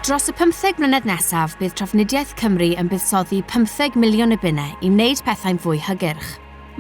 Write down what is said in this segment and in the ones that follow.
Dros y pymtheg mlynedd nesaf, bydd Trafnidiaeth Cymru yn buddsoddi pymtheg miliwn y bunne i wneud pethau'n fwy hygyrch.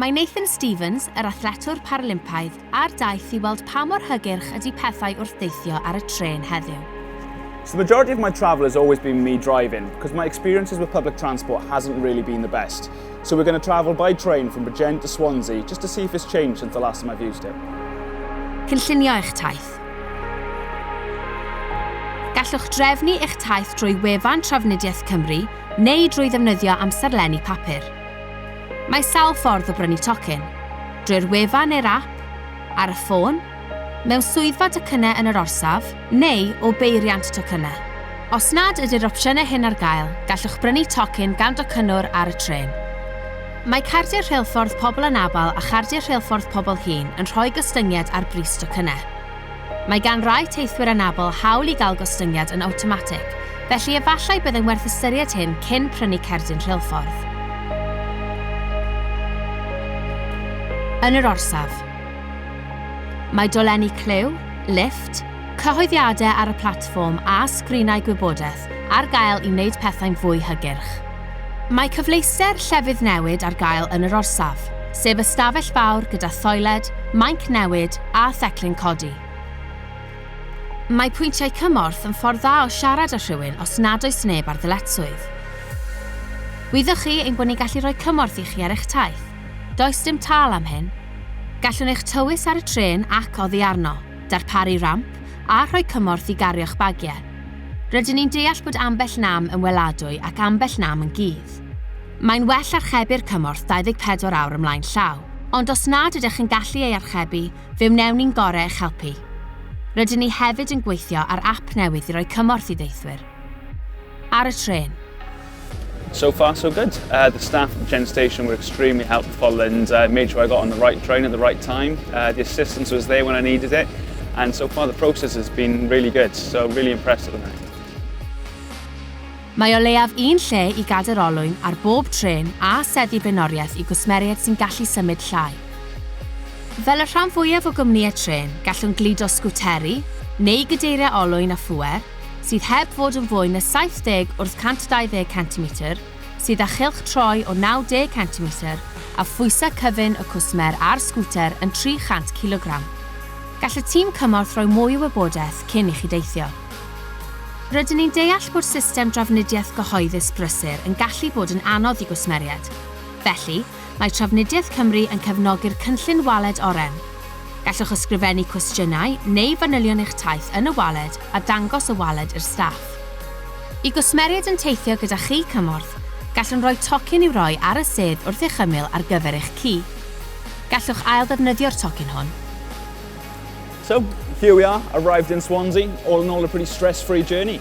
Mae Nathan Stevens, yr athletwr Paralympaidd, ar daith i weld pa mor hygyrch ydy pethau wrth deithio ar y trên heddiw. So the majority of my travel has always been me driving because my experiences with public transport hasn't really been the best. So we're going to travel by train from Bridgend to Swansea just to see if it's changed since the last time I've used it. Cynllunio eich taith. Gallwch drefnu eich taith drwy wefan Trafnidiaeth Cymru neu drwy ddefnyddio amserlenni papur. Mae sawl ffordd o brynu tocyn, drwy'r wefan neu'r ap, ar y ffôn, mewn swyddfa docynnau yn yr orsaf, neu o beiriant tocynnau. Os nad ydy'r opsiynau hyn ar gael, gallwch brynu tocyn gan docynnwr ar y trên. Mae cardiau rheilffordd pobl anabl a chardiau rheilffordd pobl hŷn yn rhoi gostyngiad ar bris tocynnau. Mae gan rai teithwyr anabl hawl i gael gostyngiad yn awtomatig, felly efallai byddai'n werth ystyried hyn cyn prynu cerdyn rheilffordd. Yn yr orsaf, mae dolenni clyw, lifft, cyhoeddiadau ar y platfform a sgrinau gwybodaeth ar gael i wneud pethau'n fwy hygyrch. Mae cyfleuster llefydd newid ar gael yn yr orsaf, sef ystafell fawr gyda thoiled, mainc newid a theclyn codi. Mae pwyntiau cymorth yn ffordd dda o siarad â rhywun os nad oes neb ar ddyletswydd. Wyddoch chi ein bod ni'n gallu rhoi cymorth i chi ar eich taith. Does dim tâl am hyn. Gallwn eich tywys ar y trên ac oddi arno. darparu ramp a rhoi cymorth i gario'ch bagiau. Rydyn ni'n deall bod ambell nam yn weladwy ac ambell nam yn gudd. Mae'n well archebu'r cymorth 24 awr ymlaen llaw, ond os nad ydych yn gallu ei archebu, fe wnewn ni'n gorau eich helpu. Rydyn ni hefyd yn gweithio ar ap newydd i roi cymorth i ddeithwyr. ar y tren. So far, so good. Uh, the staff at Gen Station were extremely helpful and uh, made sure I got on the right train at the right time. Uh, the assistance was there when I needed it, and so far the process has been really good, so really impressed at the moment. Mae o leiaf un lle i gader olwyn ar bob tren a seddi benoriaeth i gwsmeriaid sy'n gallu symud llai. Fel y rhan fwyaf o gwmnïau tren, gallwn gludo sgwteri neu gydeiriau olwyn a phwer, sydd heb fod yn fwy na 70 wrth 120 centimetr, sydd â chylch troi o 90 centimetr a phwysau cyfun y cwsmer a'r sgwter yn 300 cilogram. Gall y tîm cymorth roi mwy o wybodaeth cyn i chi deithio. Rydyn ni'n deall bod system drafnidiaeth gyhoeddus brysur yn gallu bod yn anodd i gwsmeriaid, felly, mae Trafnidiaeth Cymru yn cefnogi'r Cynllun Waled Oren. Gallwch ysgrifennu cwestiynau neu fanylion eich taith yn y waled a dangos y waled i'r staff. I gwsmeriaid yn teithio gyda chi cymorth, gallwn roi tocyn i'w roi ar y sedd wrth eich ymyl ar gyfer eich ci. Gallwch ailddefnyddio'r tocyn hwn. So, here we are, arrived in Swansea. All in all, a pretty stress-free journey.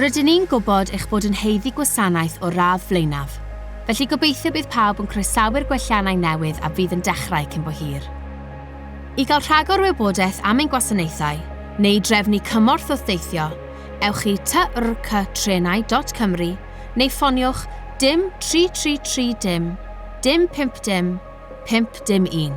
Rydyn ni'n gwybod eich bod yn haeddu gwasanaeth o'r radd flaenaf, felly gobeithio bydd pawb yn croesawu'r gwelliannau newydd a fydd yn dechrau cyn bo hir. I gael rhagor o wybodaeth am ein gwasanaethau, neu drefnu cymorth wrth deithio, ewch i trctrenau dot cymru neu ffoniwch dim 333 dim dim 50 pump dim un.